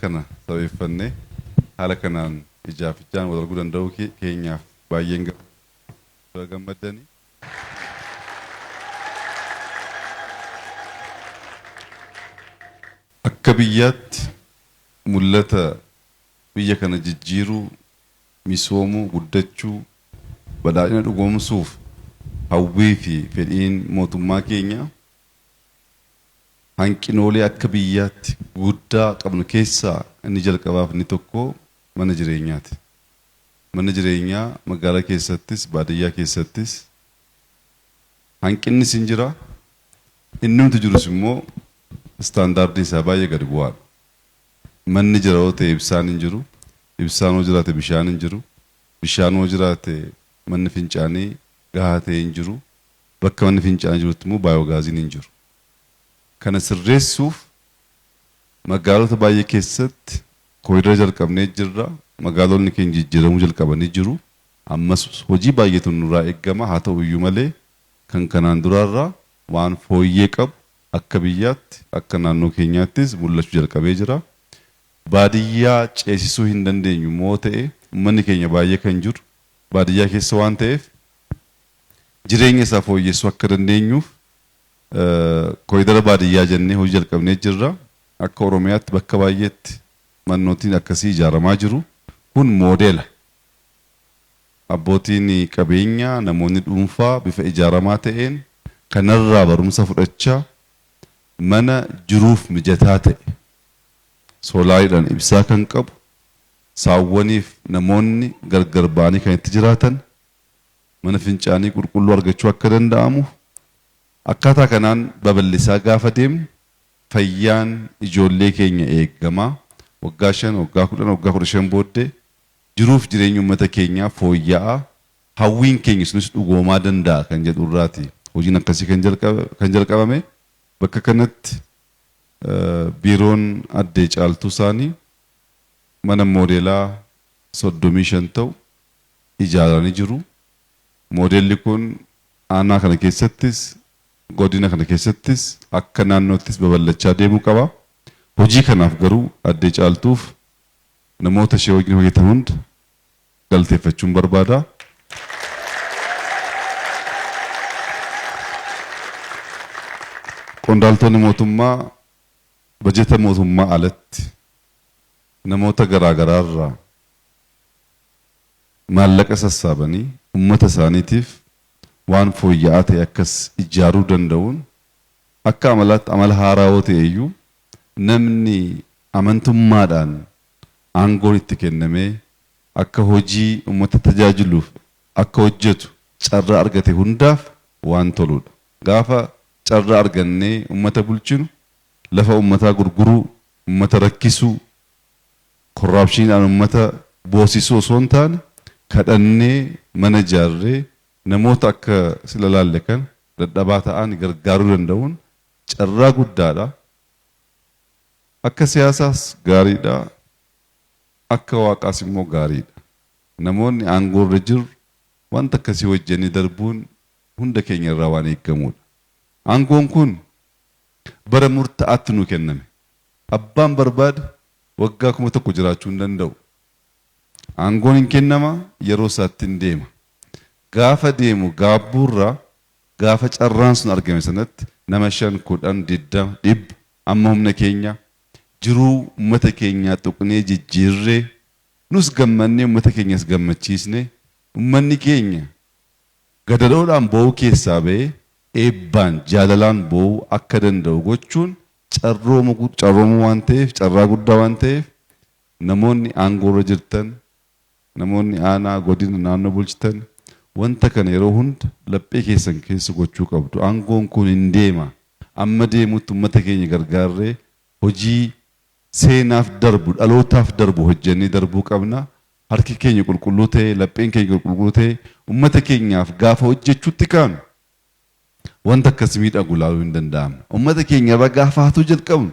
kana sabeeffannee haala kanaan ijaaf ijaan wal arguu danda'uu kee- keenyaaf baay'een gam- baga gammaddanii. Akka biyyaatti Mul'ata biyya kana jijjiiruu, misoomuu, guddachuu, badhaadhina dhugoomsuuf hawwii fi fedhiin mootummaa keenyaa hanqinoolee akka biyyaatti guguddaa qabnu keessaa inni jalqabaa fi inni tokkoo mana jireenyaati. Manni jireenyaa magaalaa keessattis baadiyyaa keessattis Hanqinnis hin jira. Innumti jirus immoo istaandaardiin isaa baay'ee gad bu'aadha. Manni jira yoo ta'e ibsaan hin jiru, ibsaan yoo jiraate bishaan hin jiru, bishaan yoo jiraate manni fincaanii gahaa ta'e hin jiru, bakka manni fincaanii jirutti immoo baayogaaziin hin jiru. Kana sirreessuuf magaalota baay'ee keessatti koriidara jalqabnee jirra, magaalonni keenya jijjiiramuu jalqabanii jiru. Ammas hojii baay'eetu nurraa eeggama, haa ta'u iyyuu malee kan kanaan duraarra waan fooyyee qabu akka biyyaatti, akka naannoo keenyaattis mul'achuu jalqabee jira. Baadiyyaa ceesisuu hin dandeenyu immoo ta'e ummanni keenya baay'ee kan jiru baadiyyaa keessa waan ta'eef jireenya isaa fooyyessuu akka dandeenyuuf kooridara baadiyyaa jennee hojii jalqabnee jirra. Akka Oromiyaatti bakka baay'eetti mannootiin akkasii ijaaramaa jiru. Kun moodeela. Abbootiin qabeenyaa, namoonni dhuunfaa bifa ijaaramaa ta'een kanarraa barumsa fudhachaa mana jiruuf mijataa ta'e, soolaariidhaan ibsaa kan qabu, saawwaniif namoonni gargar ba'anii kan itti jiraatan, mana fincaanii qulqulluu argachuu akka danda'amu akkaataa kanaan babal'isaa gaafa deemnu fayyaan ijoollee keenya eegama. Waggaa 5, waggaa 10, waggaa 15 booddee Jiruuf jireenyi ummata keenyaa fooyya'aa, hawwiin keenya sunis dhugoomaa danda'a kan jedhu irraati hojiin akkasii kan jalqabame. Bakka kanatti Biiroon Addee Caaltuu Saanii mana moodeelaa 35 ta'u ijaaranii jiru. Moodeelli kun aanaa kana keessattis, godina kana keessattis, akka naannoottis babal'achaa deemuu qaba. Hojii kanaaf garuu Addee Caaltuuf Namoota ishee wajjin hojjetan hunda galateeffachuun barbaada. Qondaaltonni mootummaa bajeta mootummaa alatti namoota garaa garaa irraa maallaqa sassaabanii uummata isaaniitiif waan fooyya'aa ta'e akkas ijaaruu danda'uun akka amalaatti amala haaraa yoo ta'e iyyuu Namni amantummaadhaan aangoon itti kennamee akka hojii ummata tajaajiluuf akka hojjetu carraa argate hundaaf waan toluudha. Gaafa carraa argannee ummata bulchinu lafa ummataa gurguruu, ummata rakkisuu, korraapshiniidhaan ummata boosisuu osoo hin taane kadhannee, mana ijaarree namoota akka sila ilaalle kana dadhabaa ta'an gargaaruu danda'uun Carraa guddaadha. Akka siyaasaas gaariidha. Akka waaqaas immoo gaariidha. Namoonni aangoorra jirru wanta akkasii hojjennee darbuun hunda keenya irraa waan eegamuudha. Aangoon kun bara murta'aatti nuu kenname. Abbaan barbaade waggaa kuma tokko jiraachuu hin danda'u. Aangoon hin kennama, yeroo isaatti hin deema. Gaafa deemu gaabbuurra Gaafa carraan sun argame sanatti nama shan, kudhan, digdama, dhibba amma humna keenyaa jiruu uummata keenyaa tuqnee jijjiirree nus gammannee uummata keenyas gammachiisnee uummanni keenya gadadoodhaan boo'uu keessaa ba'ee eebbaan, jaalalaan boo'uu akka danda'u gochuun carroomuu waan ta'eef, carraa guddaa waan ta'eef namoonni aangoorra jirtan Namoonni aanaa, godina, naannoo bulchitan wanta kana yeroo hunda laphee keessan keessa gochuu qabdu. Aangoon kun hin deema. Amma deemutti ummata keenya gargaarree hojii seenaaf darbu, dhalootaaf darbu hojjennee darbuu qabna. Harki keenya qulqulluu ta'ee, lapheen keenya qulqulluu ta'ee ummata keenyaaf gaafa hojjechuutti kaanu wanta akkasi miidhagu ilaaluu hin danda'amne. Ummata keenya irraa gaafa hatuu jalqabnu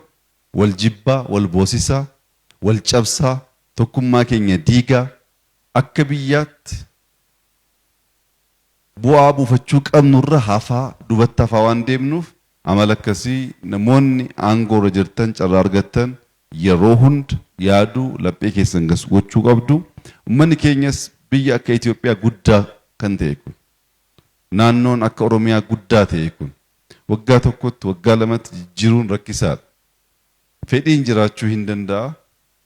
wal jibbaa, wal boosisaa, wal cabsaa, Tokkummaa keenya diigaa akka biyyaatti bu'aa buufachuu qabnu irra hafaa, dubatti hafaa waan deemnuuf amala akkasii namoonni aangoo irra jirtan carraa argattan yeroo hunda yaaduu, laphee keessan gasu gochuu qabdu. Ummanni keenyas biyya akka Itoophiyaa guddaa kan ta'e kun, naannoon akka Oromiyaa guddaa ta'e kun waggaa tokkotti, waggaa lamatti jijjiiruun rakkisaadha. Fedhiin jiraachuu hin danda'a,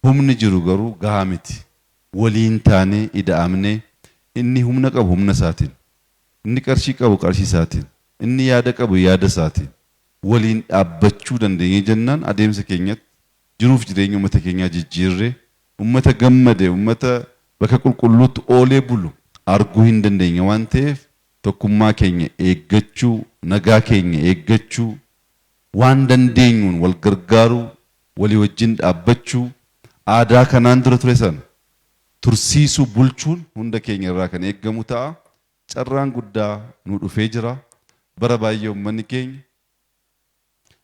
humni jiru garuu gahaa miti. Waliin taanee, ida'amnee, inni humna qabu humna isaatiin, inni qarshii qabu qarshii isaatiin, inni yaada qabu yaada isaatiin waliin dhaabbachuu dandeenyee jennaan adeemsa keenyatti jiruuf jireenya ummata keenyaa jijjiirree ummata gammade, ummata bakka qulqulluutti oolee bulu arguu hin dandeenya waan ta'eef tokkummaa keenya eeggachuu, nagaa keenya eeggachuu, Waan dandeenyuun wal gargaaruu, walii wajjin dhaabbachuu, aadaa kanaan dura ture sana tursiisuu, bulchuun hunda keenya irraa kan eegamu ta'a. Carraan guddaa nuu dhufee jira. Bara baay'ee ummanni keenya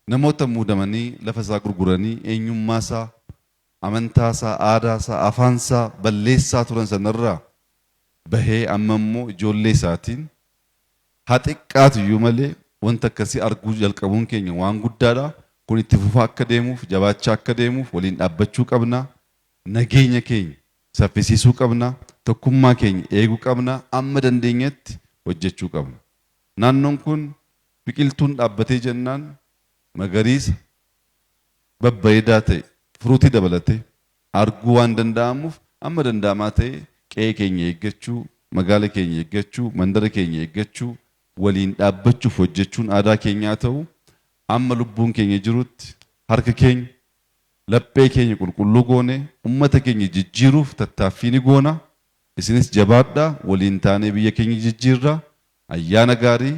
namoota muudamanii lafa isaa gurguranii eenyummaa isaa amantaasaa, aadaasaa, afaansaa balleessaa turan sanarraa bahee ammammoo ijoollee isaatiin haa xiqqaatuyyuu malee wanta akkasii arguu jalqabuun keenya waan guddaadha. Kun itti fufaa akka deemuuf, jabaachaa akka deemuuf waliin dhaabbachuu qabna. Nageenya keenya saffisiisuu qabna. Tokkummaa keenya eeguu qabna. Amma dandeenyetti hojjechuu qabna. Naannoon kun biqiltuun dhaabbatee jennaan magariisa, babbareedaa ta'e fruutii dabalatee arguu waan danda'amuuf amma danda'amaa ta'e qe'ee keenya eeggachuu, magaala keenya eeggachuu, mandara keenya eeggachuu, waliin dhaabbachuuf hojjechuun aadaa keenya haa ta'u, amma lubbuun keenya jirutti harka keenya, laphee keenya qulqulluu goonee ummata keenya jijjiiruuf tattaaffii ni goona. Isinis jabaadhaa waliin taanee biyya keenya jijjiirra. Ayyaana gaarii,